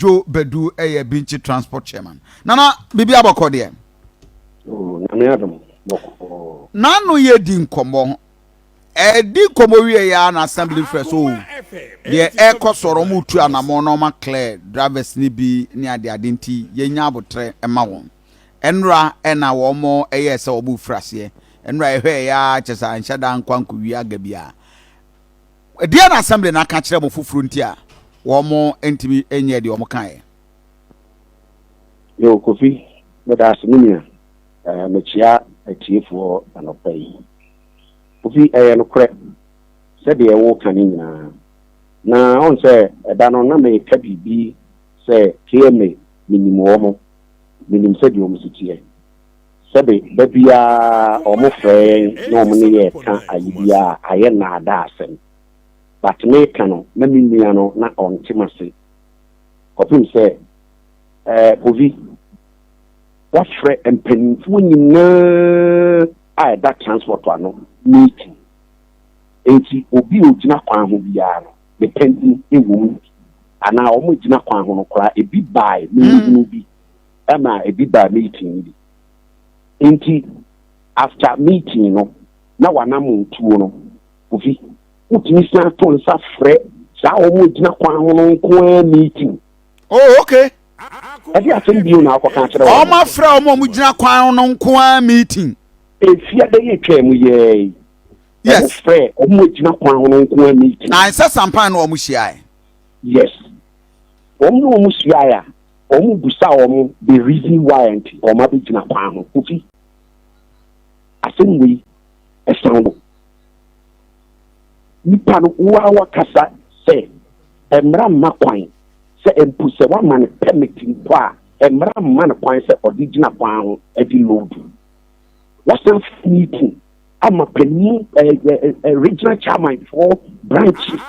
Kwadwo Badu yɛ Binkyi Transport Chairman. Nana, biribi abɔkɔ deɛ? Nyame adom, bɔkɔ. N'ano yɛ di nkɔmmɔ. Ɛdi nkɔmmɔ wie yɛ a na assembly frɛ so o. Deɛ ɛrekɔ soɔ no, wɔn tu anamɔ na wɔn aclear drivers no bi ne ade ade nti yɛnya abotrɛ ma wɔn. Ɛnora ɛna wɔn ɛyɛɛ sɛ wɔn refiri aseɛ. Ɛnora yɛhwɛɛ yɛ a kyɛ sɛ anhyɛ da nkɔ ankɔwie aga biara. Ɛdeɛn na assembly no aka akyerɛ mo foforɔ nti a wɔntumi nyɛɛ deɛ wɔkaeɛ? Yo, Kofi, meda ase me nua. Eh, mekyea atiefoɔ anɔpa yi. Kofi, ɛyɛ nokorɛ sɛ deɛ woreka no nyinaa. Na woahu sɛ ɛda no na mereka biribi sɛ KMA menim wɔn, menim sɛdeɛ wɔn si teɛ. Sɛbe, da biara wɔn frɛ yɛn na wɔn ne yɛn ka ayi biara a, ayɛ naadaa asɛm. But me ka no na me nua no na ɔnte m'ase. Kɔpem sɛ, eh, Povy, wafrɛ mpaninfoɔ nyinaa a ɛda transport ano meeting. Enti obi a ogyina kwan ho biara no, me panin wɔ mu bi, anaa wɔn a egyina kwan ho no koraa, ebi baae, me nhu bi. ɛna ebi baa meeting no bi nti after meeting no na wanamo tuo no kofi wotumi san to nsa frɛ saa wɔn egyina kwan ho no nko ara meeting. oh okay. ɛde asɛm bio na akɔka akyerɛ wɔn. wɔn afrɛ wɔn a wɔn gyina kwan ho no nko ara meeting. efia bɛyɛ atwa mu yɛɛ yi. yes wɔn frɛ wɔn egyina kwan ho no nko ara meeting. na nsɛ sampan na wɔn hyia yɛ. yes wɔn na wɔn hyia yɛ a. Ɔmo bisa ɔmo the reason why nti ɔmo abɛgyina kwan ho. Kofi, asɛm wei ɛsan wo. Nipa no wo ara wakasa sɛ mmra mma kwan sɛ mpo sɛ wama no permit mpo a mmra mma no kwan sɛ ɔde gyina kwan ho de load. Wɔasan firi ne ti ama panin regional chairman foɔ branches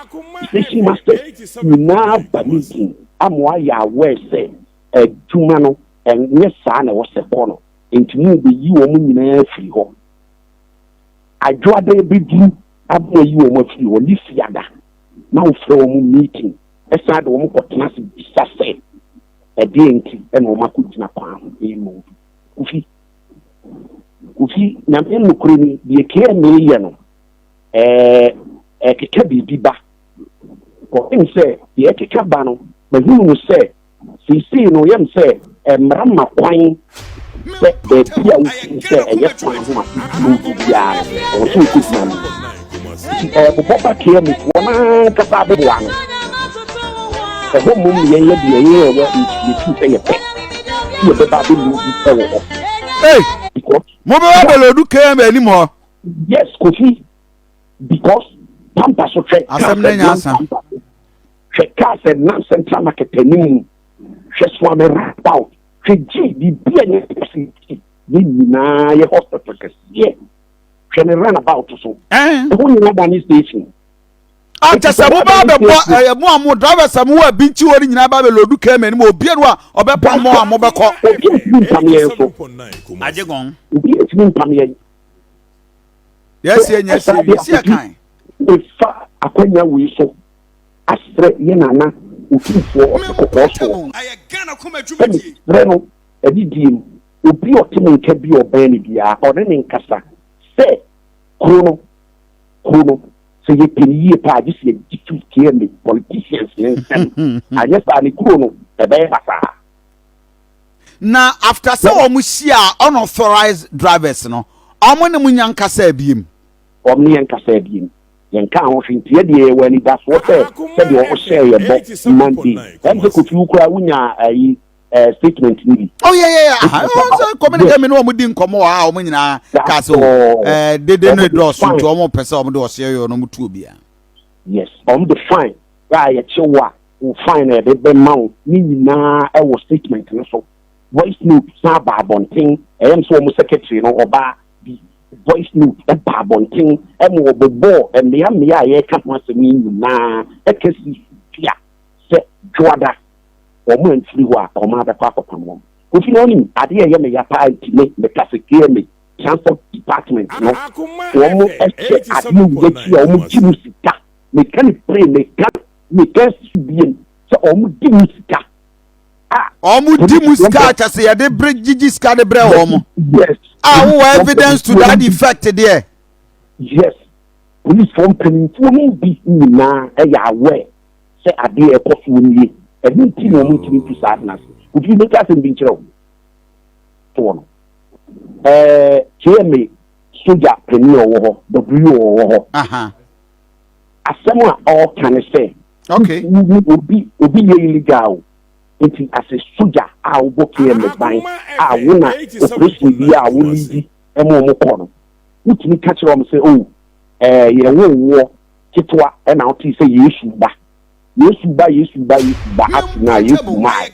station masters nyinaa aba ne ti ama wɔayɛ aware sɛ adwuma no ɛnyɛ saa na ɛwɔ sɛ kɔ no nti mu bɛyi wɔn nyinaa afiri hɔ adwoada bɛduru ama ayi wɔn afiri hɔ ne fiada na wofrɛ wɔn meeting ɛsan de wɔn kɔtena se bisa sɛ ɛdeɛ nti ɛna wɔn akɔgyina kwan ho ɛmu kofi Kofi, Nyame nokore ni, deɛ kee mee yɛ no, ɛɛ ɛkeka biribi ba. Kɔpem sɛ deɛ ɛkeka ba no, mahunu no sɛ, seisei no yɛm sɛ mmara ma kwan sɛ baabi a wofiri sɛ ɛyɛ kwan ho a wotumi wu biara no, ɛwɔ sɛ wokɔgyina mu. nti ɔrebobɔ bateɛ mu wɔn ankasa aboboa no ɛhɔ mmom ne yɛnyɛ deɛ yɛyɛ ɛwɔ yɛtuu sɛ yɛpɛ sɛ yɛbɛba abɛlu bi ɛwɔ hɔ mobɛba abɛlɔdu km anim hɔ yes kofi because pampa so hwɛ asɛm no nya asa hwɛ kaa sɛ nam central market anim hwɛ soame rapout hwɛ gye biribi a nyɛ pɛsɛ ne nyinaa yɛ hospital kɛseɛ hwɛ ne run about so ɛho nyina ba ne station ankyɛ sɛ mo baa bɛbɔ ɛyɛ mo a mo drivers a mo wɔ ebi nti wɔ ne nyinaa baa bɛ lodu kɛmɛ anim obi enu a ɔbɛpa mo a mo bɛkɔ. obi etumi mpam yɛn so agye gɔn obi etumi mpam yɛn. yɛsi yɛn yɛsi ewi si yɛ kan. efa akwanya wei so asrɛ yɛn nana otumfoɔ ɔte kɔkɔɔ soɔ ɛmi srɛ no ɛdi die mu. Obi a ɔte ne nka bi a ɔbɛn no biara, ɔne no nkasa sɛ, Kuro no, kuro no, sɛ yɛpɛ no yie paa a, gye sɛ yɛgye to tie me politicians no nsɛm. Anyɛ saa ne kuro no, ɛbɛyɛ basaa. Na after sɛ wɔn hyia unauthorized drivers no, wɔn ne mo nya nkasaa biem? Wɔn ne yɛn nkasaa biem. Yɛnkaa ho hwee. Nti yɛ deɛ yɛwɔ anidasoɔ sɛ sɛdeɛ wɔhyɛɛ yɛn bɔ Monday, ɛm sɛ Kofi wo koraa wonyaa ayi, ɛɛ eh, statement ni bi. ɔ yɛ yɛ yɛ aha ɔn sɛ kɔmini kɛmi ni wɔn di nkɔmɔ wa a wɔn nyinaa kaa sɛ o ɛɛ dede no edɔ ɔso nti wɔn pɛ sɛ wɔn de ɔseɛ yɛ wɔn tu obi a. yes wɔn de fine a yɛkye wo a wo fine na yɛde bɛ ma wo ne nyinaa ɛwɔ statement no so voice note san ba abɔnten ɛyɛ mi sɛ wɔn secretary no ɔbaa bi voice note ɛba abɔnten ɛmu wɔbɛbɔ mmea mmea a yɛka ho asɛm yi nyinaa ɛkɛse pia sɛ dwoada. wɔn amfiri hɔ a, wɔn ara bɛkɔ akɔpam wɔn. Kofi na ɔnim adeɛ a ɛyɛ me ya paa nti me mekase KMA, Transport Department, no wɔn hyɛ adeɛ wei akyi a wɔn gye mu sika. Meka no pire, meka meka asi so biem sɛ wɔn di mu sika. Ah, wɔn di mu sika a kyɛ sɛ yɛde bere gyigye sika de brɛ wɔn. Yes. A ah, wowɔ evidence to that effect deɛ. Yes. Polisifoɔ mpanimfoɔ no bi nyinaa ɛyɛ aware. sɛ adeɛ a ɛkɔ soɔ nie, ɛno nti na wɔntumi ntu saa ade no ase. Kofi, mɛka asɛm bi nkyerɛ wo. Toɔ no. Ɛɛ KMA sogya panin a ɔwɔ hɔ, WO a ɔwɔ hɔ. Aha. Asɛm a ɔreka ne sɛ, Okay. wo- wo- wo- obi obi yɛ illegal o. Nti asɛ sogya a wobɔ KMA ban a wo na operation bi a wo leadi ɛma wɔn kɔ no, wotumi ka kyerɛ wɔn sɛ, oh, ɛɛ yɛwo woɔ ketewa na wotee sɛ Yesu ba, Yesu ba, Yesu ba, Yesu ba ase no a, Yesu mae.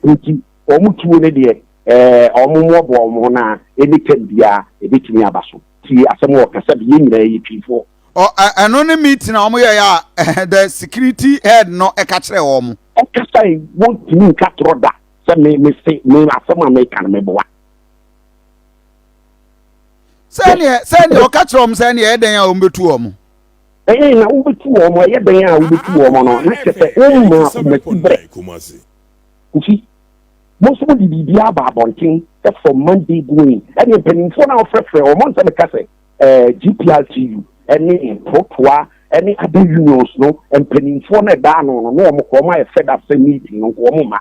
Nti wɔn tuo no deɛ, ɛɛ, wɔn mmoaboa wɔn ho na any time biara ɛbɛtumi aba so. Tie asɛm a wɔka sɛ, Yɛn nyinaa yɛ Twifoɔ. Ɔ, ɛ, ɛno ne meeting a wɔn yɛɛ a, ɛhɛ, the security head no ɛka kyerɛɛ wɔn. Ɔkasae, wɔntumi nka torɔ da sɛ me, mese, me, asɛm a meka no meboa. sɛdeɛ sɛdeɛ ɔka kyerɛ wɔn sɛ ɛyɛ dɛn a wɔbɛtu wɔn. ɛyɛ na wobɛtu wɔn ɛyɛ dɛn a wobɛtu wɔn no na kyɛ sɛ woma womati berɛ kofi mo nso mode biribi aba abɔnten for monday going ɛne mpanimfoɔ no a wɔfrɛfrɛ wɔn nsɛ meka sɛ gpltu ɛne protoa ɛne other unions no mpanimfoɔ no ɛda ano no na wɔn kɔ wɔn ayɛ fed up sɛ meeting no nko wɔn ma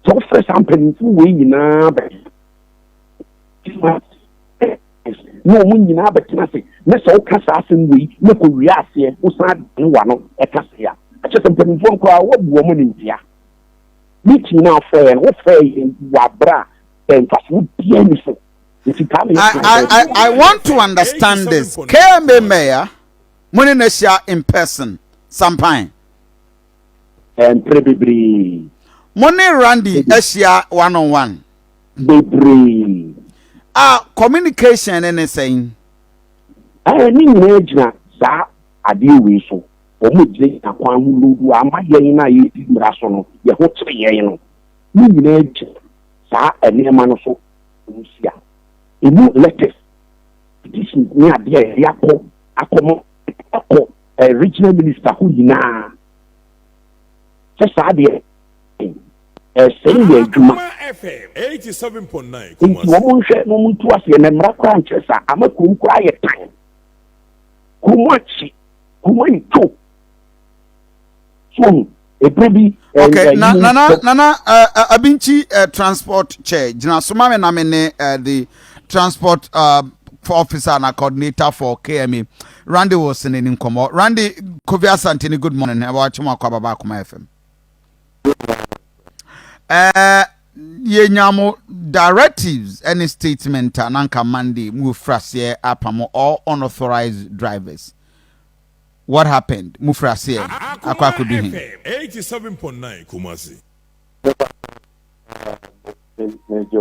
sɛ wofrɛ saa mpanimfoɔ wei nyinaa bɛyɛ na wɔn nyinaa bɛtena ase na sɛ woka saa asɛm wei na kɔ wie aseɛ wosan ne wa no ɛka se a ɛkyɛ sɛ mpanimfoɔ nkoraa woabu wɔn animtia meeting no afɔɛ no wofɛɛ yɛn wɔ aberɛ a ɛmfasoɔ biaa ni so nti taa me I, I, I, I want to understand this. KMA Mayor, mo ne n'ahyia in person, Sampan. Mpere bebree. Mo ne Randy ahyia one on one. bebree. A communication no ne sɛn? Ɛɛ, ne nyinaa gyina saa adeɛ wei so. Wɔn gyinagyina kwan ho lodu a ama yɛn a yɛdi mmara so no, yɛn ho kyere yɛn no. Ne nyinaa gyina saa nneɛma no so. Nsia. Emu letters, petitions ne adeɛ a yɛde akɔ akɔma akɔ regional minister hɔ nyinaa sɛ saa adeɛ. Ɛsɛe yɛn adwuma. Nti wɔn nhwɛ na wɔn ntu aseɛ na mmra koraa nkyerɛ saa ama kurom koraa ayɛ tan. Kurom akyi, kurom ayi to. So ɔhu, ebere bi ɛɛ Okay, ɛyi na nana nso. nana eh, eh, abinchi eh, transport kyɛ gyina so ma me na me ne eh, the transport uh, for officer na coordinator for KMA Randy Wilson ne nkɔmɔ Randy Kofi Asante ne good morning ɛwɔ akyɛm akɔ ababa akoma FM Eh, yɛnya mo directives ne statement a na nka monday mu ofiri aseɛ apamo all unauthorized drivers what happened mo firi aseɛ akɔ akɔdu he megye